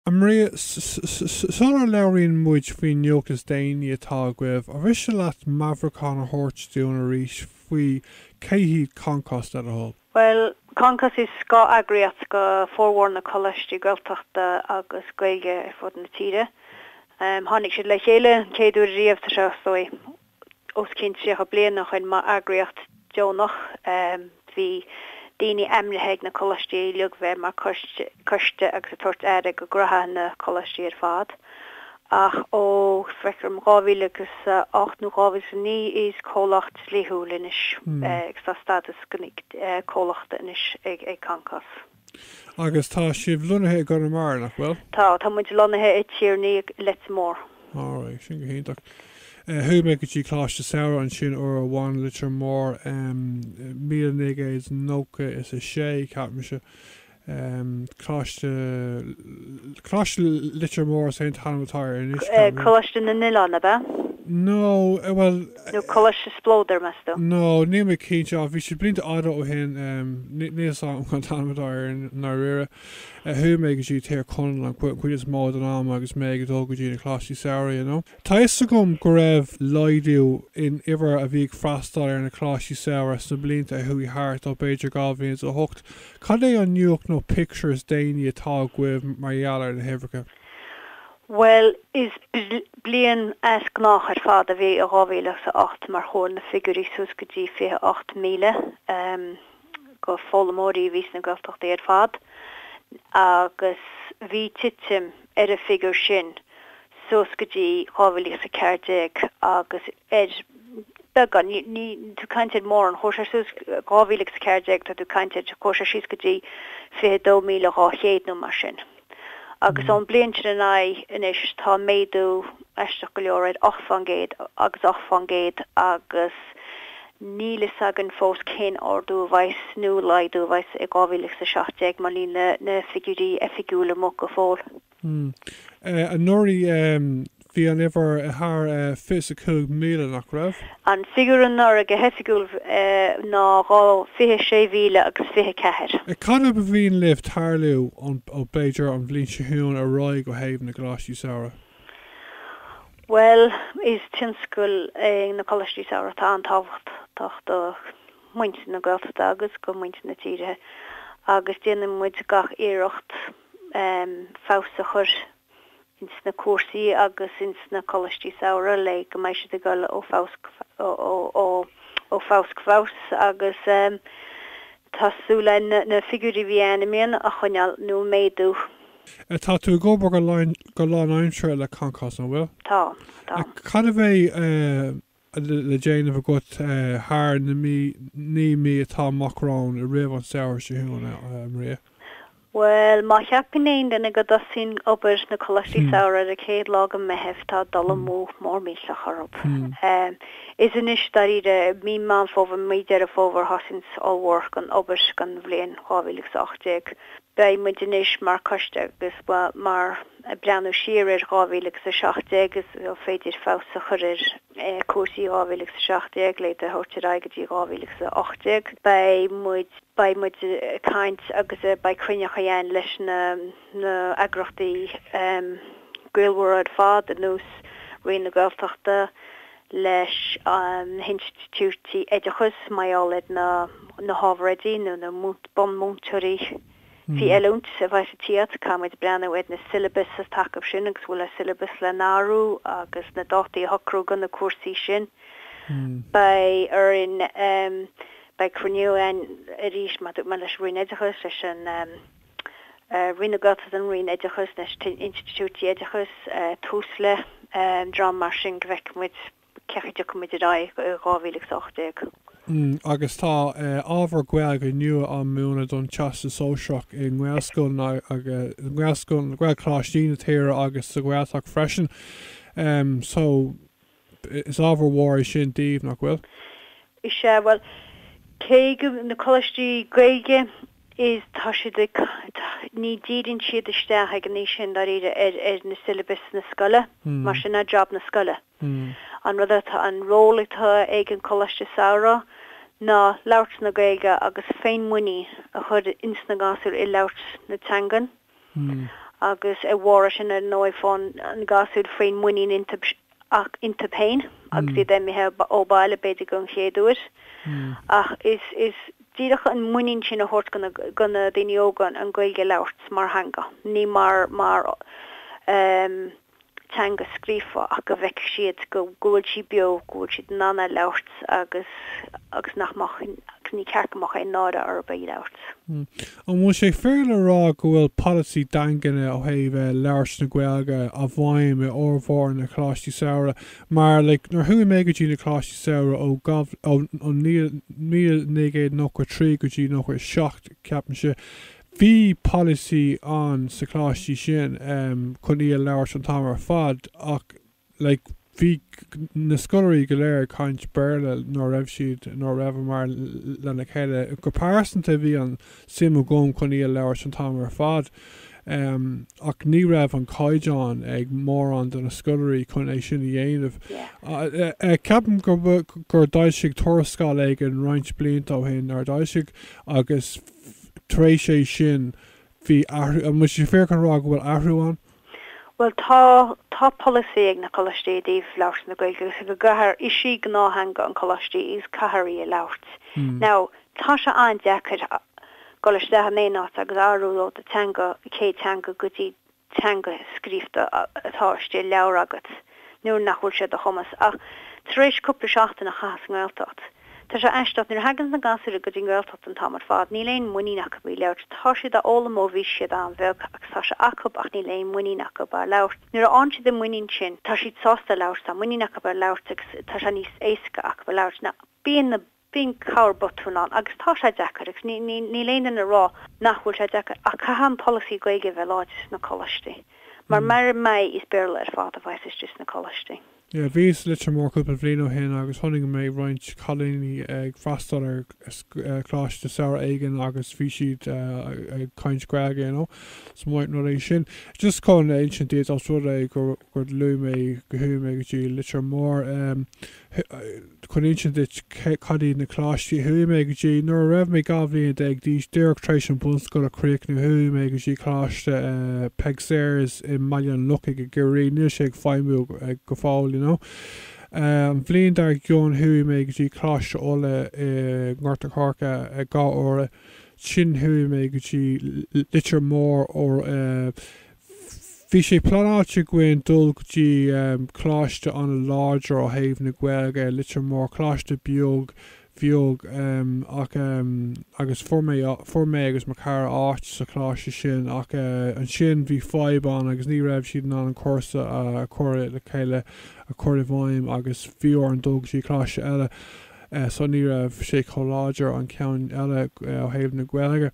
A Mharia, sula labhraíonn muid faoin nuacht is déanaí atá agaibh, an mhiste leat meabhrúchán a thabhairt dúinn arís faoi cé hiad Concos, le do thoil? Bhuel, Concos is scáth-eagraíocht do formhór na coláistí Gaeltachta agus Gaeilge ar fud na tíre. Tháinig siad le chéile an chéad uair riamh tá sé, is dóigh, os cionn 30 bliain ó shin mar eagraíocht dheonach. Bhí daoine ainmnithe ag na coláistí le bheith mar choiste agus ag tabhairt aire do ghnóthaí na coláistí ar fad. Ach ó, feictear dom, 2008 nó 2009 is comhlacht dlíthiúil anois agus tá stádas comhlachta anois ag Concos. Agus tá sibh lonnaithe i gConamara, nach bhfuil? Tá, tá muid lonnaithe i dTír an Fhia, Leitir Móir. Alright, sin go hiontach. Chuaigh mé go dtí Coláiste Samhraidh ansin uair amháin i Leitir Móir, míle naoi gcéad nócha is a sé, ceapaimse. Coláiste, Coláiste Leitir Móir is é an t-ainm atá air anois, ceapaim. Coláiste na nOileán, ab ea? No, bhuel. Nó Coláiste Spleodar, meas tú? No, níl mé cinnte, ach bhí sé blianta fada ó shin, níl 'fhios a'm cén t-ainm atá air i ndáiríre. Chuaigh mé go dtí Tír Chonaill an chuid is mó den am agus mé ag dul go dtí na coláistí samhraidh, you know. Tá 'fhios agam go raibh laghdú in uimhir a bhí ag freastáil ar na coláistí samhraidh sna blianta a chuaigh thart, ó b'fhéidir dhá mhíle is a hocht. Cad é an nuacht nó pictiúr is déanaí atá agaibh mar gheall ar na huimhreacha? Bhuel, is bliain aisteach ar fad a bhí i 2008 mar chuaigh na figiúirí suas go dtí 28,000. d'fhoghlaimeoirí a bhí sna Gaeltachtaí ar fad agus bhí titim ar an bhfigiúr sin suas go dtí 2014 agus ar beagán, níl tú ag caint ar mórán, chuaigh sé suas, 2014, tá tú ag caint ar, chuaigh sé síos go dtí 22,200 nó mar sin. agus ón bhliain sin ar aghaidh anois tá méadú, aisteach go leor, ocht fán gcéad agus ocht fán gcéad agus níl fhios againn fós cén ardú a bheas nó laghdú a bheas i 2017 mar níl na figiúirí oifigiúla amuigh go fóill. Anuraidh, Bhí an uimhir thar 25,000, nach raibh? An figiúr anuraidh go hoifigiúil ná 26,000 agus 24. Cad é ba mhian libh tarlú ón, b'fhéidir, an bhliain seo chugainn ar aghaidh ó thaobh na gcoláistí samhraidh? Bhuel, is tionscal é na coláistí samhraidh atá an-tábhachtach do mhuintir na Gaeltachta agus do mhuintir na tíre agus déanann muid gach iarracht feabhas a chur ins na cúrsaí agus ins na coláistí samhraidh le go mbeidh siad ag dul ó fhás go fás agus tá súil againn na figiúirí a bhí ann i mbliana a choinneáil nó a mhéadú. Tá tú ag obair go lánaimseartha le Concos, an bhfuil? Táim, táim. Cad a bheidh. le déanamh agat thar na naoi mí atá amach romhainn roimh an samhradh seo chugainn, a Mharia? Bhuel, má cheapann aon duine go dtosaíonn obair sna coláistí samhraidh ar an chéad lá de Mheitheamh, tá dul amú mór millteach orthu. Is anois, dáiríre, mí Mheán Fómhair, mí Dheireadh Fómhair a thosaíonn formhór den obair don bhliain 2018. Beidh muid anois mar choiste agus mar. Ag breathnú siar ar 2017, is an féidir feabhas a chur ar chúrsaí i 2017 le iad a thabhairt ar aghaidh go dtí 2018. Beidh muid, beidh muid ag caint agus beidh cruinniúchaí againn leis na eagrachtaí gaolmhara ar fad ar nós Roinn na Gaeltachta, leis na hinstitiúidí oideachais, mar gheall ar na hábhair oidí nó na bunmhúinteoirí. Bhí oiliúint a bhfaigheann siad, caithfidh muid breathnú ar na syllabus sa taca sin agus bhfuil an syllabus le n-athrú agus na dátaí a shocrú do na cúrsaí sin. Beidh orainn, beidh cruinniú againn arís mar a dúirt mé leis an Roinn Oideachais, leis an Roinn na Gaeltachta an Roinn Oideachais, leis na hinstitiúidí Oideachais, Tusla, dream mar sin go bhfeicfidh muid cén chaoi a dtiocfaidh muid ar aghaidh i 2018? Agus tá ábhar Gaeilge nua á mhúineadh don Teastas Sóisearach i ngaelscoileanna, gaelcholáistí na tíre agus sa Ghaeltacht freisin so is ábhar mór é sin daoibh, nach bhfuil? Is ea, bhuel, cé go, na coláistí Gaeilge, is, tá siad ag, ní dhíríonn siad isteach ag an aois sin, dáiríre, ar na syllabus na scoile, mar sin é job na scoile. An rud atá an ról atá ag an Coláiste Samhraidh ná labhairt na Gaeilge agus féinmhuinín a chur ins na gasúir i labhairt na teangan agus ar a bharr sin ar ndóigh faigheann na gasúir féinmhuinín iontu féin agus iad imithe ó bhaile b'fhéidir don chéad uair ach is díreach an muinín sin a thabhairt do na daoine óga an Gaeilge a labhairt mar theanga ní mar teanga scríofa ach go bhfeicfeadh siad go bhfuil sí beo, go bhfuil siad in ann é labhairt agus, agus nach mbeadh ní ceart go mbeadh aon náire orthu é labhairt. An bhfuil sé fair le rá go bhfuil polasaí daingean ó thaobh labhairt na Gaeilge i bhfeidhm i bhformhór na Coláistí Samhraidh? Mar, like, nuair chuaigh mé go dtí na Coláistí Samhraidh ó ó 1993 go dtí 97 ceapaimse, Bhí polasaí ann sa choláistí sin chun í a labhairt an t-am ar fad ach like bhí na scoláirí go léir ag caint Béarla nuair a raibh siad, nuair a rabhamar lena chéile. Go pearsanta bhí an suim agam chun í a labhairt an t-am ar fad ach ní raibh an caighdeán ag mórán de na scoláirí chun é sin a dhéanamh. Yeah. Ceapaim gur d'fhoilsigh Tuarascáil éigin roinnt blianta ó shin, nár d'fhoilsigh? agus. tar éis é sin, bhí athrú, an bhfuil sé fíor chun a rá go bhfuil athrú ann? Bhuel, tá, tá polasaí ag na coláistí i dtaobh labhairt na Gaeilge, agus go gcaithfear, is í gnáth-theanga an choláistí is caithfear í a labhairt. Now, tá sé an-deacair dul isteach in aon áit agus athrú ó do teanga, céad teanga go dtí, teanga scríofa atá istigh i leabhar agat nuair nach bhfuil sé ar do chumas, ach tar éis cúpla seachtain a chaitheamh sa nGaeltacht, tá sé aisteach, nuair a thagann na gasúir go dtí nGaeltacht an t-am ar fad, níl aon mhuinín acu a bheith á labhairt, tá siad á fhoghlaim ó bhí siad an-bheag agus tá sé acu ach níl aon mhuinín acu á labhairt. Nuair a fhaigheann siad an mhuinín sin, tá siad sásta labhairt, tá muinín acu á labhairt agus tá sé níos éasca acu a labhairt ná bíonn na. Bíonn corrbhotún ann agus tá sé deacair agus níl aon duine ag rá nach bhfuil sé deacair ach caithfidh an polasaí Gaeilge a bheith láidir sna coláistí mar mura mbeidh is Béarla ar fad a bheas istigh sna coláistí. Yeah, bhíos i Leitir Mór cúpla bhliain ó shin agus chonaic mé roinnt cailíní ag freastal ar choláiste samhraidh éigin agus bhí siad ag caint Gaeilge, you know, so maith an rud é sin. Just chun a insint duit os rud é gur luaigh mé go chuaigh mé go dtí Leitir Mór, eh, chun insint duit cad iad na coláistí a chuaigh mé go dtí. Nuair a raibh mé dhá bhliain déag d'aois, díreach tar éis an bhunscoil a chríochnú, chuaigh mé go dtí Coláiste Peig Sayers i mBaile an Lochaigh i gCiarraí. Níl sé ag feidhmiú go fóill, you know. An bhliain dár gcionn chuaigh mé go dtí Coláiste Uladh i nGort an Choirce dhá uair. Ansin chuaigh mé go dtí Leitir Móir. Bhí sé pleanáilte againn dul go dtí coláiste an-láidir ó thaobh na Gaeilge ar Leitir Móir, coláiste beag beag ach, agus fuair mé, fuair mé agus mo chara áit sa choláiste sin ach ansin bhí fadhb ann agus ní raibh siad in ann an cúrsa a chur le chéile, a chur i bhfeidhm agus bhí orainn dul go dtí coláiste eile so ní raibh sé chomh láidir an ceann eile ó thaobh na Gaeilge.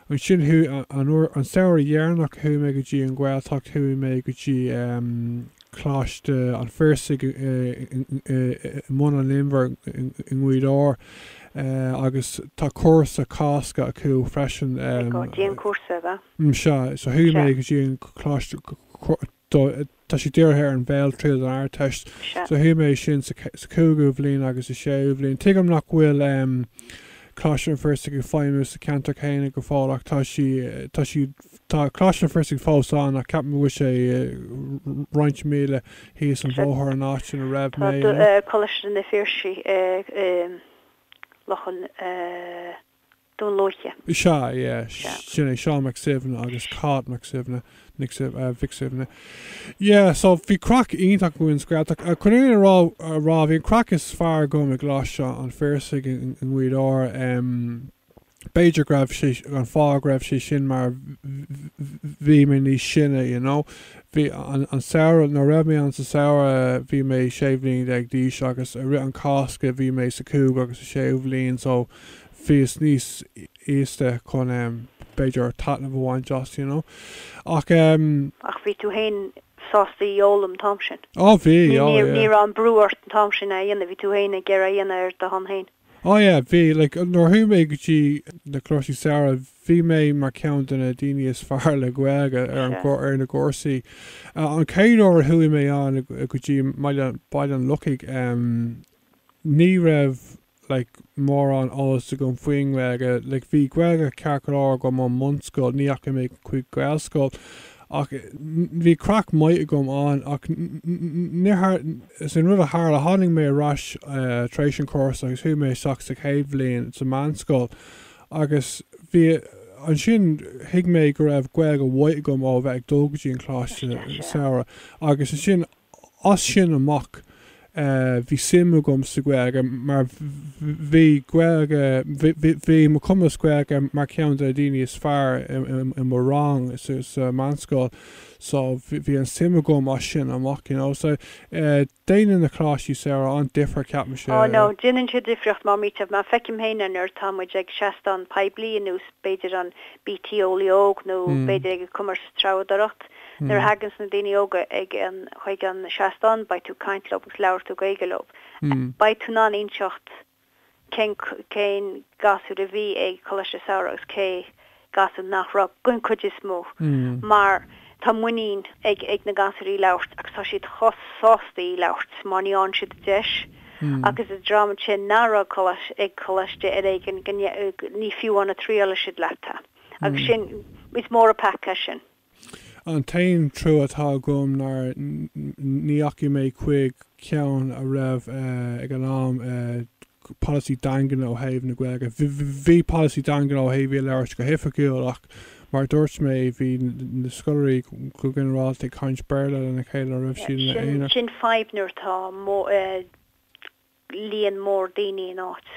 ansin chuaigh, an samhradh dheireanach chuaigh mé go dtí an Ghaeltacht, chuaigh mé go dtí Coláiste an Phiarsaigh i mBun an Inbhir i nGaoth Dobhair agus tá cúrsa Cásca acu freisin. Dianchúrsa, ab ea? Sea, so chuaigh mé go dtí an Coláiste Cásca. do, tá sé dírithe ar an bhéaltriail don Ardteist. Sea. So thuig mé sin sa, sa chúigiú bhliain agus sa séú bhliain. Tuigim nach bhfuil ehm Coláiste an Phiarsaigh ag feidhmiú sa cheantar céanna go fóill ach tá sí, tá sí, tá Coláiste an Phiarsaigh fós ann ach ceapaim go bhfuil sé roinnt míle thíos an bhóthair ón áit ina raibh mé, you know. Coláiste an Phiarsaigh i, i Loch an eh. Dún Lúiche. Is ea, yeah. Sea. Sin é, Seán Mac Suibhne agus Cáit Mac Suibhne, Nic Suibhne, eh, Mhic Suibhne. Yeah, so bhí craic iontach againn sa Ghaeltacht. Eh, Chun a rá, bhí an craic is fearr agam i gColáiste an Phiarsaigh i nGaoth Dobhair. Em, b'fhéidir go raibh sé, an fáth go raibh sé sin mar bh- bhí mé níos sine, you know. Bhí an, an samhradh, nuair a raibh mé ann sa samhradh, bhí mé sé bhliain déag d'aois agus i rith an Cásca bhí mé sa chúigiú agus sa séú bhliain so, bhíos níos aosta chun, em, b'fhéidir taitneamh a bhaint as, you know. Ach, em. Ach bhí tú féin sásta í a fhoghlaim an t-am sin? Á, bhí, á, yeah. Ní, ní raibh aon bhrú ort an t-am sin é a dhéanamh, bhí tú féin ag iarraidh é a dhéanamh ar do shon féin? Á, yeah, bhí. Like, nuair a chuaigh mé go dtí na coláistí samhraidh, bhí mé mar cheann de na daoine is fearr le Gaeilge ar an, ar na gcúrsaí. An chéad uair a chuaigh mé ann go dtí Baile an Lochaigh, em, ní raibh, like mórán eolas agam faoin nGaeilge, like bhí Gaeilge ceart go leor agam ón mbunscoil, ní dheachaigh mé chuig Gaelscoil ach bhí craic maith agam ann ach is é an rud a tharla, tháinig mé ar ais tar éis an chúrsa agus chuaigh mé isteach sa chéad bhliain sa mheánscoil agus bhí, ansin thuig mé go raibh Gaeilge mhaith agam ó bheith ag dul go dtí an coláiste samhraidh agus ansin, As sin amach, bhí suim agam sa Ghaeilge mar bhí Gaeilge, bhí mo chumas Gaeilge mar cheann de na daoine is fearr i mo rang sa meánscoil so bhí an suim agam as sin amach you know. So déanann na coláistí samhraidh an-difear ceapaimse. Oh no, déanann sé difríocht mar, mar shampla, mar feicim féin é nuair atá muid ag seastán poiblí, ar nós b'fhéidir an BT Eolaí Óg nó b'fhéidir ag an Comórtas Treabhdóireachta, Nuair a thaganns na daoine óga ag an chuig an seastán beidh tú caint leob agus labhair tú Gaeilge leob. Beidh tú in ann inseacht cén cén gasúr a bhí ag Coláiste Samhraidh agus cé gasúr nach raibh, den chuid is mó, mar tá muinín ag na gasúir í a labhairt agus tá siad chomh sásta í a labhairt má bhíonn siad an deis agus an dream sin nach raibh ag coláiste ar éigean ní fiú amháin triálfaidh siad leat é agus sin is mór an peaca sin. An t-aon trua atá agam nár ndeachaigh mé chuig ceann a raibh ag an am polasaí daingean ó thaobh na Gaeilge. Bhí polasaí daingean ó thaobh í a labhairt go hoifigiúil ach mar a dúirt mé bhí na scoláirí go ginearálta ag caint Béarla lena chéile nuair a bhí siad ina aonar. Sin fadhb nuair atá líon mór daoine in áit.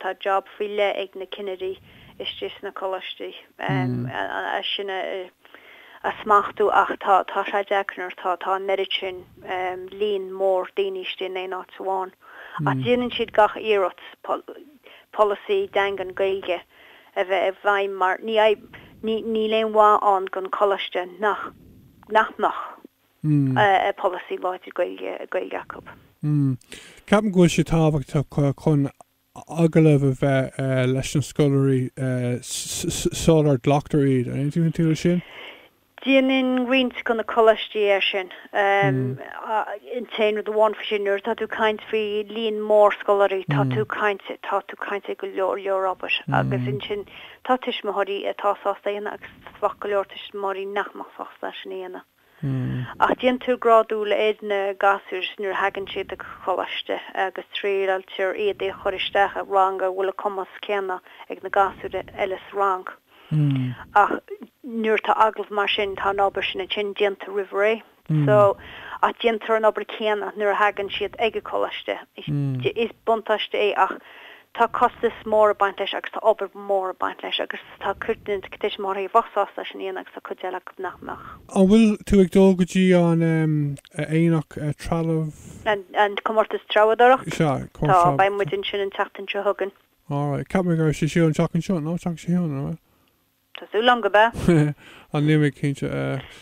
Tá job faoi leith ag na cinnirí istigh sna coláistí é sin a smachtú ach tá sé deacair nuair atá an oiread sin líon mór daoine istigh in aon áit amháin. Ach déanann siad gach iarracht polasaí daingean Gaeilge a bheith i bhfeidhm mar níl aon mhaith ann don choláiste nach mbeadh. polasaí láidir Gaeilge acu. Ceapaim go bhfuil sé tábhachtach chun agallamh a bheith leis na scoláirí sular glactar iad, an aontaíonn tú leis sin? Déanann roinnt de na coláistí é sin. An t-aon rud amháin faoi sin, nuair atá tú ag caint faoi líon mór scoláirí, tá tú ag caint, tá tú ag caint ar go leor, leor obair agus ansin tá tuismitheoirí atá sásta é a dhéanamh agus bheadh go leor tuismitheoirí nach mbeadh sásta é sin a dhéanamh. Ach déantar grádú le haghaidh na gasúr nuair a thagann siad ag coláiste agus triailtear iad a chur isteach i rang a bhfuil an cumas céanna ag na gasúir eile sa rang. Ach nuair atá agallamh mar sin, tá an obair sin ansin déanta roimh ré. So, ach déantar an obair céanna nuair a thagann siad ag an gcoláiste. Is buntáiste é ach Tá costas mór ag baint leis agus tá obair mhór ag baint leis agus tá cuid de na tuismitheoirí a bheadh sásta é sin a dhéanamh agus tá cuid eile acu nach mbeadh. An bhfuil tú ag dul go dtí an aonach trealaimh? An comórtas treabhdóireachta? Sea, comórtas treabhdóireachta. Tá, beidh muid ansin an tseachtain seo chugainn. Alright, cheap mé go raibh sé ar siúl an tseachtain seo, no? An tseachtain seo chugainn, an bhfuil? Tá súil agam gurb ea. Á, níl mé cinnte.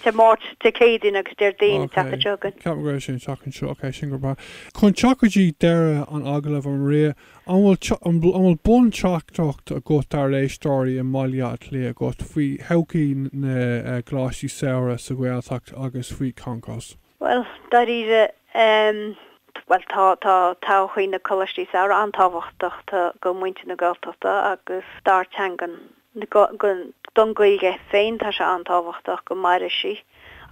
Dé Máirt, Dé Céadaoin agus Déardaoin an tseachtain seo chugainn. Cheap mé go raibh sé an tseachtain seo. Ok, sin gurb ea. Chun teacht go dtí deireadh an agallaimh, a Mharia, an bhfuil, an bhfuil bunteachtaireacht agat dár n-éisteoirí i mBaile Átha Cliath agat faoi thodhchaí na gcoláistí samhraidh sa Ghaeltacht agus faoi Concos? Bhuel, dáiríre, ehm, bhuel, tá, tá todhchaí na coláistí samhraidh an-tábhachtach do, do mhuintir na Gaeltachta agus dár teangan. Don Ghaeilge féin tá sé an-tábhachtach go mairfidh sí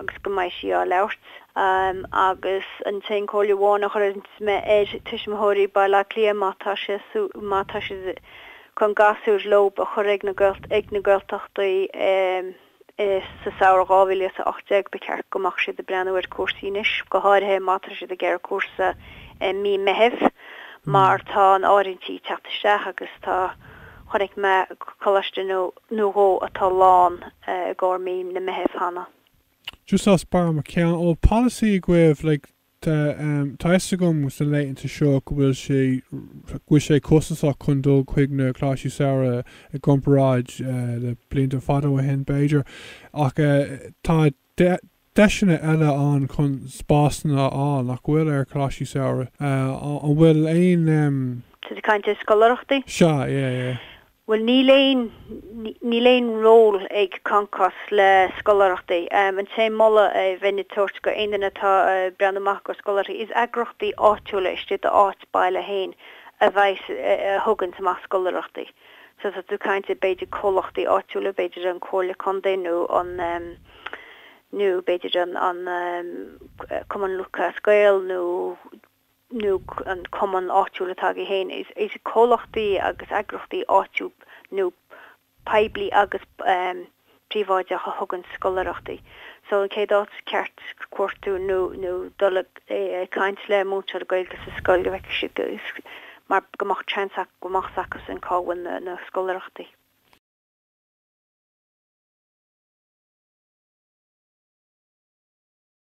agus go mbeidh sí á labhairt. Agus an t-aon chomhairle amháin a chuirfeadh mé ar tuismitheoirí Baile Átha Cliath má tá siad chun gasúr leo a chur ag na Gaeltachtaí, Is sa samhradh 2018 ba cheart go mbeadh siad ag breathnú ar chúrsaí anois, go háirithe má tá siad ag iarraidh cúrsa i mí Meithimh, mar tá an áirithintí ag teacht isteach agus tá, chonaic mé coláiste nó dhó atá lán i gcomhair mí an Mheithimh cheana. Just as barr mo cheann. Ó, policy agaibh, like. Tá a fhios agam sna laethanta seo go bhfuil sé go bhfuil sé costasach chun dul chuig na coláistí samhraidh i gcomparáid le blianta fada ó shin, b'fhéidir, ach tá deiseanna eile ann chun spásanna a fháil, nach bhfuil, ar coláistí samhraidh? An bhfuil aon. Tá tú ag caint ar scoláireachtaí? Sea, yeah, yeah. Bhuel, níl aon, níl aon ról ag Concos le scoláireachtaí. An t-aon mholadh a bheinn ag tabhairt d'aon duine atá ag breathnú amach do scoláirí, is eagraíochtaí áitiúla istigh i d'áit baile féin a bheas, a thugann amach scoláireachtaí. So tá tú caint ar b'fhéidir comhlachtaí áitiúla, b'fhéidir an Comhairle Contae nó an nó b'fhéidir an an Cumann Lúthchleas Gael nó nó an cumann áitiúil atá agat féin, is comhlachtaí agus eagraíochtaí áitiúil nó poiblí agus príobháideach a thugann scoláireachtaí so an chéad áit is ceart cuartú nó dul ag caint le múinteoir Gaeilge sa scoil go bhfeicfeá mar go mbeadh chance go mbeadh a fhios acusan cá bhfuil na scoláireachtaí.